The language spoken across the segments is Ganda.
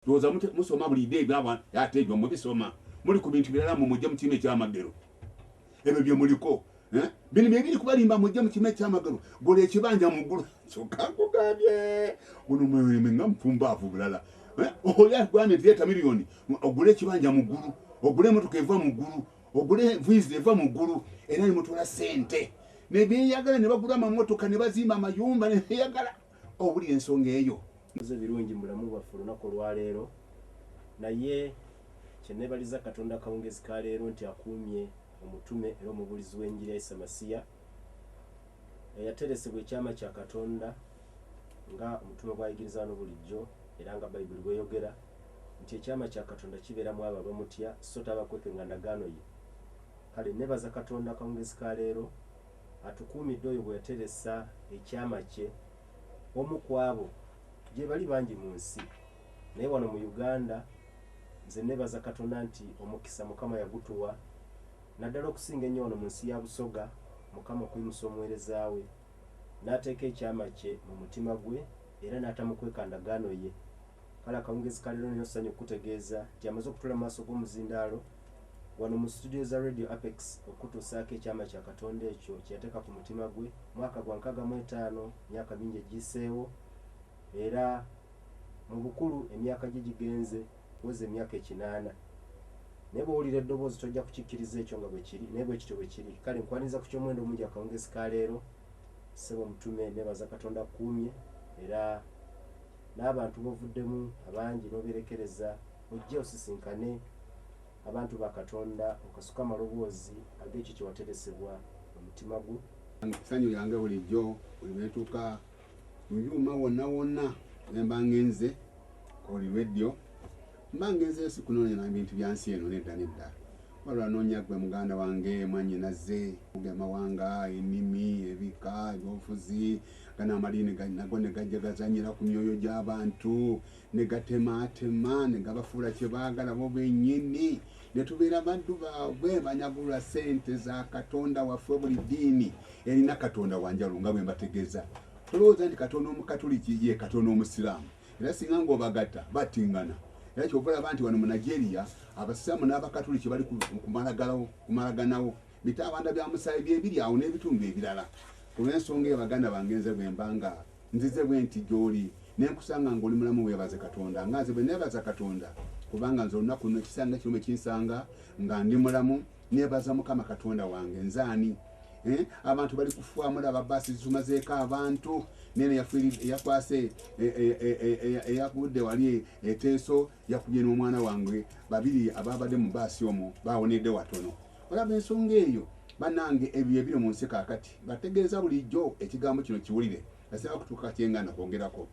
Ndowoza mute musoma bulide ebyo aba ate ebyo mubisoma muli ku bintu birala mu mujje mukime kya magero ebyo bye muliko eh bini bye biri kubalimba mujje mukime kya magero gole ekibanja mu gulu kyoka kugabye uno mwe mwe ngamfumba avu bulala eh oya gwane theater milioni ogule ekibanja mu gulu ogule motoka eva mu gulu ogule vizi eva mu gulu era ni mutula sente ne biyagala ne bagula mamotoka ne bazima mayumba ne biyagala owulira ensonga eyo nze birungi mulamu bwaffe olunaku olwaleero naye kyenebaliza katonda akawungezi ka leero nti akuumye omutume era omubuulizi w'enjiri ya isa masiya eyateresebwa ekyama kya katonda nga omutume gwayigiriza no bulijjo era nga bayibuli bweyogera nti ekyama kya katonda kibeera mu abo abamutya so tabakweke nga ndagaano ye kale nebaza katonda akawungezi ka leero atukuumidde oyo bwe yateresa ekyama kye omu ku abo gyebali bangi mu nsi naye wano mu Uganda nze nebaza katonda nti omukisa mukama yagutuwa naddala okusinga ennyo wano mu nsi ya Busoga mukama okuyimusa omuwereza we nateeka ekyama kye mu mutima gwe era natamukweka ndagaano ye. Kale akawungezi ka leero nina essanyu okukutegeeza nti amaze okutuula mu maaso g'omuzindaalo wano mu situdiyo za Radio Apex okukutuusaako ekyama kya Katonda ekyo kye yateeka ku mutima gwe mwaka gwa nkaaga mu etaano myaka mingi egiyiseewo era mu bukulu emyaka gye gigenze kuweza emyaka ekinaana naye bw'owulira eddoboozi tojja kukikkiriza ekyo nga bwe kiri naye bwe kityo bwe kiri kale nkwaniriza ku ky'omuwendo omungi akawungezi ka leero ssebo omutume nebaza Katonda kukuumye era n'abantu b'ovuddemu abangi n'oberekereza ojje osisinkane abantu ba Katonda okasuke amaloboozi ag'ekyo kye wateresebwa mu mutima gwo. Ssanyu lyange bulijjo buli lwe ntuuka mu byuma wonna wonna ne mba ngenze ku buli lweddyo. Mba ngenzeyo sikunoonya na bintu bya nsi eno, nedda, nedda. Wabula nnoonya ggwe, muganda wange, mwannyinaze. Ge mawanga, ennimi, ebika, eby'obufuzi, gano amadiini ga, nago ne gajja gazannyira ku myoyo gy'abantu, ne gatemaatema, ne gabafuula kye baagala bo bennyini, ne tubeera baddu baabwe, banyagulula ssente za Katonda waffe. Buli ddiini erina katonda wa njawulo, nga bwe mbategeeza. Tolowooza nti Katonda Omukatuliki ye Katonda Omusiraamu. Era singa ng'obagatta battingana. Era kyova olaba nti wano mu Nigeria abasiraamu n'abakatuliki bali kumalaganawo bitaabanda bya musaayi bye biri awo n'ebitundu ebirala. Ku lw'ensonga eyo baganda bange nze bwe mba nga nzize bwe nti gy'oli ne nkusanga ng'oli mulamu weebaze Katonda nga nze bwe neebaza Katonda kubanga nze olunaku luno ekisanga kino bwe kinsanga nga ndi mulamu Nebaza mukama katonda wange nze ani eh? abantu bali kufuwa mulaba basi zitumazeeko abantu nene yakwase eh, eh, eh, eyakudde wali eteeso yakubye n'omwana wange babiri ababadde mu baasi omu bawonedde watono olaba ensonga eyo banange ebyo ebiri mu nsi kakati bategeeza bulijjo ekigambo kino kiwulire asaba kutuuka kyengana kwongerako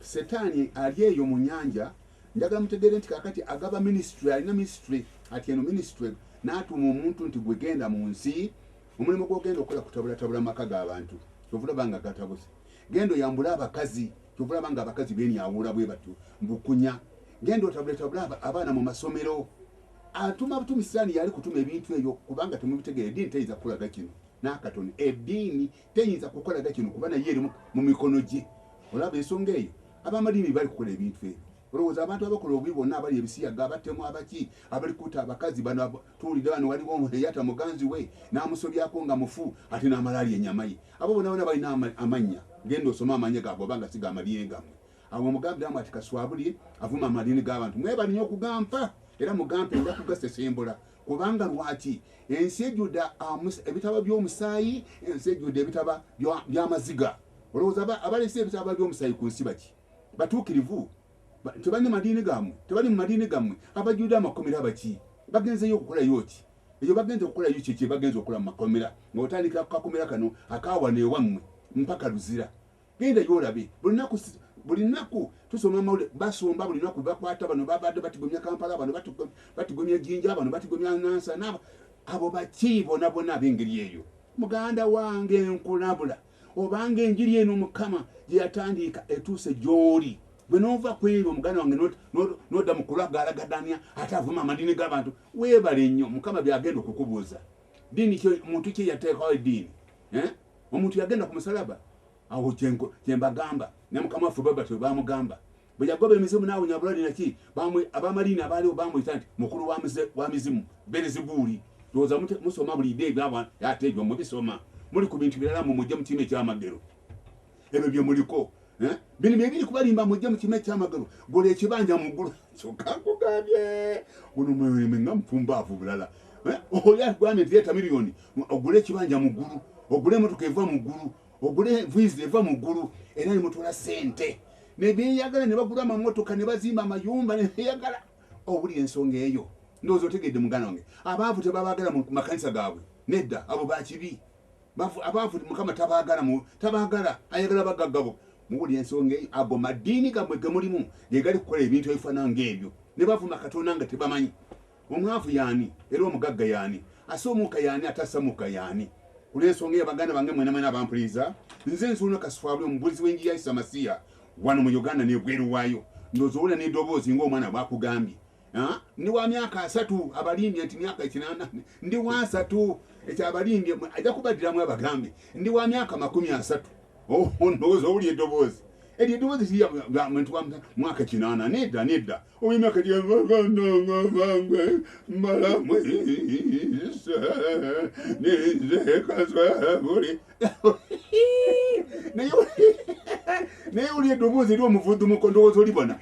Setaani ali eyo mu nyanja. Njagala mutegeere nti kakati agaba ministry, alina ministry ati eno ministry n'atuuma omuntu nti gwe genda mu nsi, omulimu gw'ogenda okukola kutabulatabula amaka g'abantu, kyova olaba nga gatabuse. Genda oyambule abakazi, kyova olaba nga abakazi benyawuula bwe batyo mbukunya. Genda otabuletabule abaana mu masomero. Atuma butumi Sitaani yali kutuma ebintu ebyo kubanga temubitegeera, eddiini teyinza kukulaga kino n'akatono. Eddiini. teyinza kukola da kino kuba naye eri mu mikono gye olaba ensonga eyo abamadiini bali kukola ebintu ebyo olowooza abantu abakola obubi bonna abali ebisiyaga abatemu abaki abali kuta abakazi bano tuwulidde bano waliwo eyata muganzi we n'amusobyako nga mufu ate n'amalaali enyama ye abo bona bona balina amannya genda osoma amannya gaabwe oba nga siga amadiini gammwe awo omugambiramu ati kaswabulye avuma amadiini g'abantu mwebalinyo okugampa era mugampe nja kugasesembula Kubanga lwaki? Ensi ejjude ebitaba by'omusaayi, ensi ejjude ebitaba by'amaziga. Olowooza abalese ebitaba by'omusaayi ku nsi baki? Batuukirivu? Tebali mu madiini gammwe? Tebali mu madiini gammwe? Abajjude amakomera baki? Bagenzeyo okukolayo ki? Eyo bagenze okukolayo kye kye bagenze okukola mu makomera, ng'otandikira ku kakomera kano aka wano ewammwe mpaka Luzira. genda yolabe bulinaku bulinaku tusoma amawulire basomba bulinaku bakwata bano babadde batigomya kampala bano batigomya jinja bano batigomya nansa nabo abo baki bona bona abengeri eyo muganda wange nkulabula obanga enjiri eno mukama gyeyatandiika etuuse gyoli gwe nova kwebyo muganda wange noda mukulagalagadanya ate avuma amadini gabantu webale nnyo mukama byagenda okukubuuza dini muntu kyeyateekawo ediini eh? Omuntu yagenda ku musalaba, awo kyembagamba ne mukama waffe Robert we bamugamba bwe yagoba emizimu n'awonya bulwade naki abamaliini abaaliwo bamuyita nti mukulu wa mizimu berezibuuli ndowooza musoma bulide ebyabwa ate ebyo mubisoma muli ku bintu birala mu mujje mu kiina ekyamagero ebyo bye muliko Eh? bino byebiri kubalimba mujje mukima ekyamagalo gola ekibanja mugulu kyoka nkugambye guno mwemwe nga mufumbaavu bulala eh? oli agwambye nti leeta miliyoni ogule ekibanja mugulu ogule emotoka eva mugulu ogule vizi eva mugulu era nemutula sente nebyeyagala nebagula amamotoka nebazimba amayumba nebyeyagala obuli ensonga eyo ndowooza otegedde mugana wange abaavu tebabagala mu makanisa gaabwe nedda abo bakibi Bafu abafu mukama tabagala mu tabagala ayagala bagagga bo mubuli ensonga eyo ago madini gamwe gemulimu gegali kukola ebintu ebifana ng'ebyo ne bavuma katonda nga tebamanyi omwavu yani era omugagga yani asa omuka yani atasa muka yani kulensonga eyo baganda bange mwena mwena abampuliza nze nzuuno kasifaabi omubulizi w'enjiri ya isa masiya wano mu uganda nebweru waayo ndozoowula n'edoboozi ng'omwana bwakugambye ndi wa myaka asatu abalimbye nti myaka ekinana ndi wa asatu ekyo abalimbye ajja kubaddiramu abagambe ndi wa myaka makumi asatu oh, ndowooza owuli eddoboozi eryo eddoboozi kiriyamuntu wa mwaka kinana nedda nedda owemyaka gyagandangavangwe mbalamu ise nizekazabuli naye uli eddoboozi eri omuvudumuko ndowooza olibona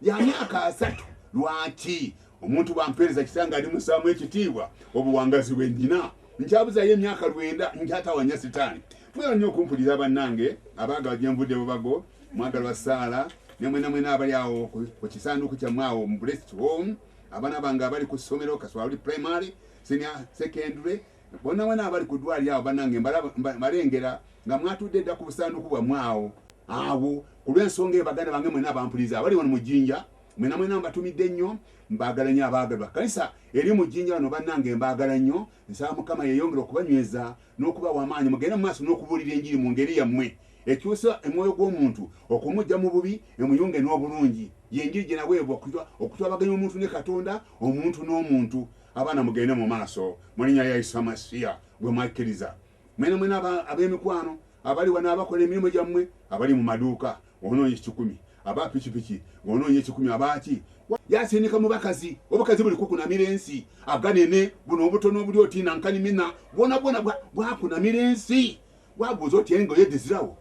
ya myaka asatu lwaki omuntu bwampeereza kitange ali musaamu ekitiibwa obuwangazi bwe nnina nkyabuzayo emyaka lwenda nkyatawanya sitaani mwera nnyo okumpulira bannange abaagala gye nvudde bubago mwagalwa saala ne mwenamwena abali awo ku kisanduuku kyammwe awo mu blessed home abaana bange abali ku ssomero kaswali primary senior secondary Bonabona abali ku ddwaliro awo banange mbalengera nga mwatudde dda ku busanduku bwamwe awo awo ku lw'ensonga eyo baganda bange mwena abampuliriza abali wano mu jjinja mwena mwena mbatumidde nnyo mbaagala nnyo abaagalwa kanisa eri mu jjinja wano bannange mbaagala nnyo nsaba mukama yeeyongera okubanyweza n'okubawa amaanyi mugende mu maaso n'okubuulira enjiri mu ngeri yammwe ekyusa emwoyo gw'omuntu okumujja mu bubi emuyunge n'obulungi yenjiri gye naweebwa okutwabaganya omuntu ne katonda omuntu n'omuntu no Abaana mugende mu maaso mu linnya lya Isa Masiya gwe mwakkiriza. Mwena mwena aba- ab'emikwano abali wano abakola emirimu gyammwe, abali mu maduuka, onoonya ekikumi, aba pikipiki, ng'onoonya ekikumi, abaaki. Wa- Yasindika mu bakazi, obukazi buli kukunamira ensi, aganene, buno obutono obuli oti nankanimina, bwona bwona bwa- bwakunamira ensi. Wabuuza oti engoye dizirawo?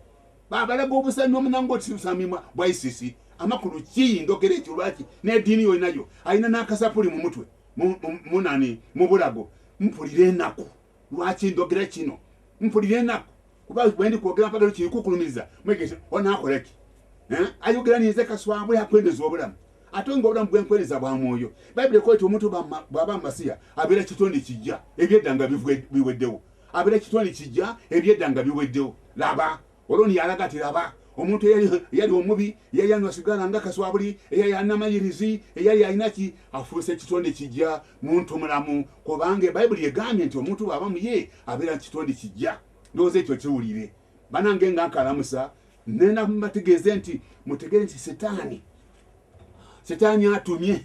Babalaga obusa n'omunango otisibisa mimwa bwa ICC amakulu kii ndogera ekyo lwaki n'ediini yolinayo alina n'akasapuli mu mutwe munani mu bulago mpulira enaku lwaki ndogera kino mpulira enaku kuba bwendi kwogera mpagalo kikukulumiza mwegese onakoleki eh? ayogera ninze kaswabwe akwendeza obulamu ate nga obulamu bwenkwereza bwa mwoyo bayibuli ekweta omuntu bwaba masiya abeera kitonde kijja ebyeddanga biweddewo abera kitwale kijja ebyedda nga biweddewo laba oloni yalaga ati laba omuntu eyali omubi eyali anywa sigala nga kaswabuli eyali anamayirizi eyali alinaki afuuse ekitonde kijja muntu mulamu kubanga bayibuli egambye nti omuntu bwaba muye abeera kitonde kijja ndowooza ekyo kiwulire banange nga nkalamusa nena mubategeeze nti mutegere nti setaani setaani atumye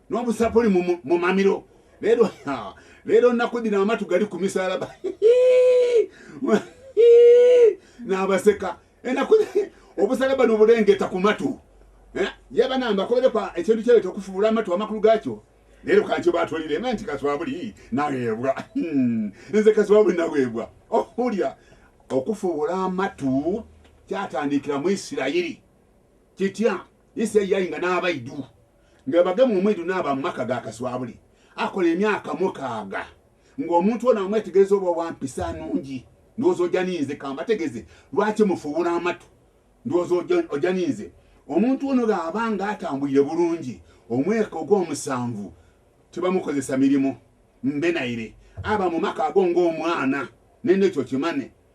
n'obusapuli mu mamiro leero leero nakudira amatu gali ku misalaba n'abaseka enaku obusalaba nobulengeta ku matu eh, yaba namba koberekwa ekintu kyebeta okufuula amatu amakulu gakyo leero kankyo batwalire ma nti kaswabuli naweebwa hmm, nze kaswabuli naweebwa ohulya okufuula amatu kyatandikira mu isirayiri kitya Ise yainga n'abaidu nga bagemu omwidu n'aba mu maka ga Kaswabuli akola emyaka mukaaga ng'omuntu ono amwetegereza oba wa mpisa nungi ndowooza oja ninze kambategeze lwaki mufuwula amatu ndowooza oja ninze omuntu ono bw'aba ng'atambulire bulungi omweka ogw'omusanvu tebamukozesa mirimu mbe naire aba mu maka ago ng'omwana nene ekyo kimane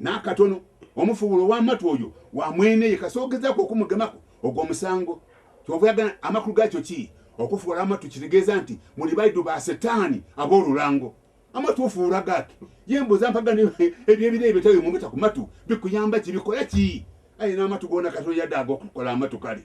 N'akatono. Omufubulo ow'amatu oyo wa mwene ye kasita ogezaako okumugemako, ogwo musango. Ky'ova oyagala, amakulu gaakyo ki? Okufuula amatu kitegeeza nti muli baidu ba Setaani ab'olulango. Amatu ofuula gaaki? Ye mbuuza mpaga ne eby'ebire ebyo tawe mumata ku matu, bikuyamba ki? Bikola ki? Aye n'amatu goona katono yadde ag'okukola amatu kale.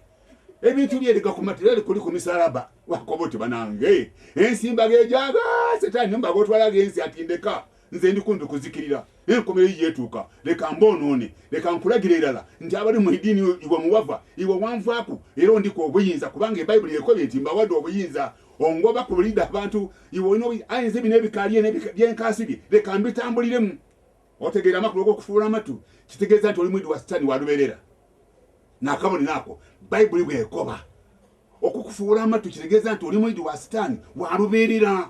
Ebintu bye erega ku matu era likuli ku misalaba. Wakoba oti banange, ensi mbaga egyaga Setaani mbaga otwala ag'ensi ati ndeka. Nze ndi kumpi kuzikirira, naye enkomerero yiyo etuuka. Leka mboonoone. Leka nkulagire irala nti abali mu idiini yo iwe muwava, iwe wanvaaku, era ondikwa obuyinza, kubanga ebaibuli ekobye nti mbawade obuyinza ongoba ku bulide abantu, iwe olina obuyi, aye nze bino ebika bye ne bye nkaasibye leka mbitambuliremu. Otegeera amakulu g'okufuula amatu? Kitegeeza nti oli muyidi wa sitani wa luberera. Nakabonero ako baibuli bwekoba. Okukufuula amatu kitegeeza nti oli muyidi wa sitani wa luberera.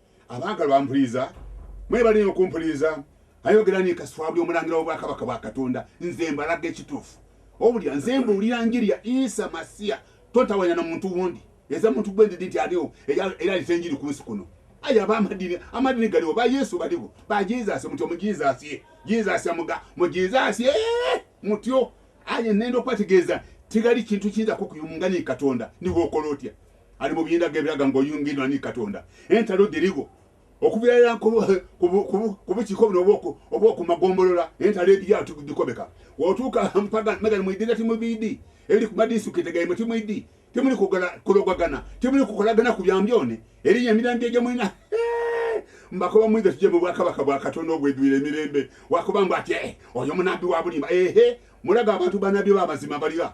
abaagalwa mpuliriza mwebale nyo okumpuliriza ayogera ni kaswabuli omulangira w'obwakabaka bwa katonda nze mbalaga ekituufu obulya nze mbuulira njiri ya isa masiya totawanya na muntu wundi eza muntu gwe ndidi nti aliwo era alita enjiri ku nsi kuno aye aba amadini amadini galiwo ba yesu baliwo ba jesus mutyo mu jesus ye jesus amuga mu jesus ye mutyo aye nenda okubategeeza tigali kintu kiyinzako kuyumungani katonda niwe okola otya ali mu biyindaga ebiraga ng'oyungiddwa ni katonda entalo diriwo okubeera ku bukiiko buno obwokumagombolola entalo edya dikobeka otuuka mpaga megan muidira timu bidi eri ku madisitulikiti gaimwe timu idi temuli kulogagana temuli kukolagana ku byambyone eriyo emirandira gyemulina mbakoba mwiza tuje mu bwakabaka bwa katonda obwedwire emirembe wakuba mbu ati eh, oyo munabbi wa bulimba ehe mulaga abantu banabbi b'amazima balira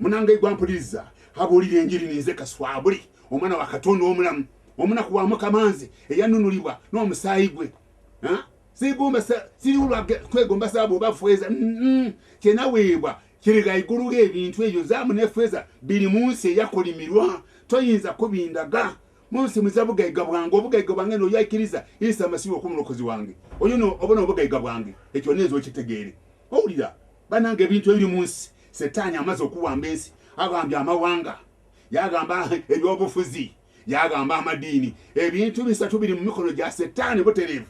munange gwa mpuliriza abuulira enjiri ninze kaswabuli omwana wa katonda omulamu omunaku wa mukamanze eyanunulibwa n'omusaayi gwe sigombatwegomba saabu oba fweza kyenaweebwa kiriga igulu ebintu ebyo zaamu ne fweza biri mu nsi eyakolimirwa toyinza kubindaga munsi muza bugaiga bwange obugaiga bwange noyaikiriza isa masihi okumulokozi wange oyo obona obugaiga bwange ekyo nenza okitegeere owulira Banange ebintu ebiri munsi setani amaze okuwamba ensi agambye amawanga yagamba ebyobufuzi yagamba amadiini ebintu bisatu biri mu mikono gya setani buterevu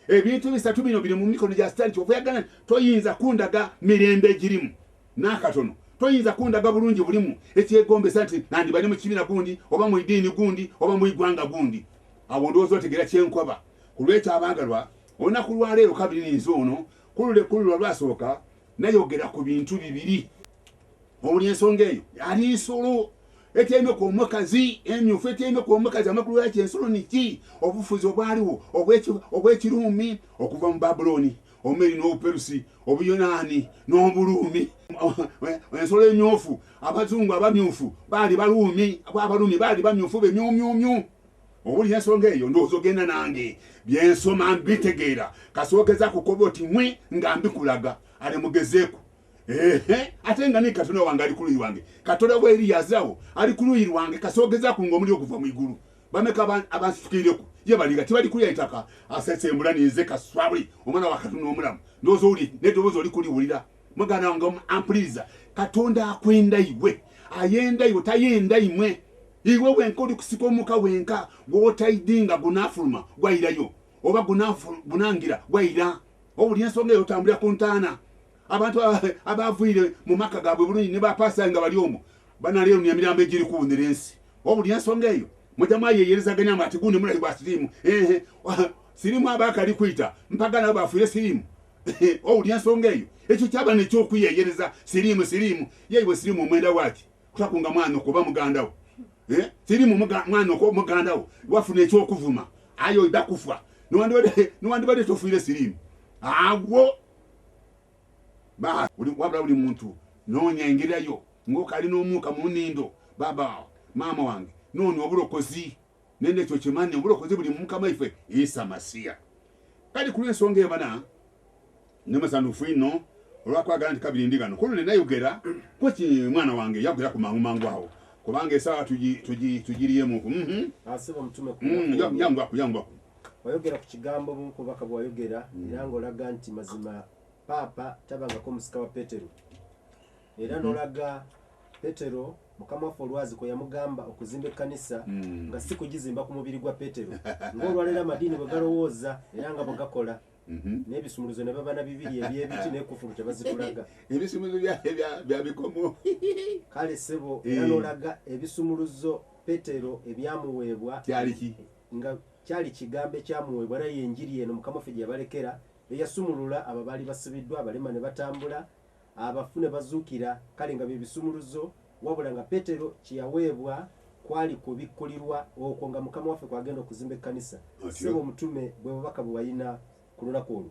ebintu bisatu bino biri mu mikono gya setani kyova yagana toyinza kundaga mirembe egirimu nakatono toyinza kundaga bulungi bulimu ekyegombesa nti nandibali mu kibiina gundi oba mu idiini gundi oba mu igwanga gundi awo ndowooza otegera kyenkoba ku lwekyo abaagalwa olunaku lwaleero kabiri ninze ono Kulule kulula lwasooka nayogera ku bintu bibiri owuli ensonga eyo ali nsolo etyaime ku omukazi emyufu etyaime ku omukazi amakulu gaki ensolo niki obufuzi obwaliwo obwekiruumi okuva mu babulooni omeri n'obuperusi obuyonaani n'obuluumi ensolo emyufu abazungu abamyufu baali baluumi abaluumi baali bamyufu bemyumyumyu owulira ensonga eyo ndowooza ogenda nange byensoma mbitegeera kasookeza kukoba oti mwe nga mbikulaga ale mugezeeku ehe ate nga naye katonda wange ali kuluyi wange katonda wa eriyazawo ali kuluyi lwange kasoogeza ku nga omuli okuva mu igulu bameka abansitukirireku ye balinga tibali kulya itaka asesembula ninze kaswabuli omwana wa katonda omulamu ndowooza owuli nedowooza oli kuliwulira mugana wange ampuliriza katonda akwenda iwe ayenda iwe tayenda imwe iwe wenka oli kusika omuka wenka gwotaidinga gunafuluma gwairayo oba gunangira gwaira obuli ensonga eyo otambulira ku ntaana abantu abavuyire mu maka gabwe bulungi ne bapasa nga bali omu banaleero nemirambo egiri kuwunira ensi obuli ensonga eyo Mujamu ayeyereza ganya mba ati gundi mulali bwa sirimu. Ehe. Sirimu aba akali kuita. Mpaga nabo bafuye sirimu. Owulira ensonga eyo. Ekyo kyaba ne ky'okuyeyereza sirimu sirimu. Ye iwe sirimu omwenda waki? Kutakunga mwana okuba muganda wo. Eh? Sirimu mwana okuba muganda wo. Wafuna eky'okuvuma. Ayo iba kufa. Niwandibade niwandibade tofuire sirimu. Agwo. Ba, buli, wabula buli muntu noonya engerayo ng'okalina omuuka mu nnindo. Baba, maama wange, noonya obulokozi. Nende ekyo kimanyi, obulokozi buli mu Mukama ife, Isa Masiya. Kali ku lw'ensonga ebana, ndi musanufu inno olwakwagala nti kabiri ndi gano kuno ne nayogera kweki mwana wange yagwira ku mangu mangu awo kubanga esaawa tugiriyemu ku mhm. ah, mm, yanguaku yanguaku Wayogera ku kigambo obumu ku bubaka bwe wayogera era ng'olaga nti mazima Paapa tabangako musika wa Petero era n'olaga Petero mukama waffe olwazi kwe yamugamba okuzimba ekkanisa mm. nga si kugizimba ku mubiri gwa Petero ng'olwaleero amadiini bwe galowooza era nga bwe gakola Mhm. n'ebisumuluzo ne babana bibiri ebyebiti nekufulu tebazitulaga ebisumuluzo bya bikomo kale sebo era eh. nolaga ebisumuluzo petero ebyamuweebwa kyaliki Nga kyali kigambo ekyamuweebwa, era ye Njiri eno Mukama waffe gye yabalekera, eyasumulula abo abaali basibiddwa, abalema ne batambula, abafu ne bazuukira, kale nga bye bisumuluzo, wabula nga Peetero kye yaweebwa kwali kubikkulirwa okwo nga Mukama waffe kw'agenda okuzimba ekkanisa. Ssebo Omutume, bwe bubaka bwe walina ku lunaku olwo.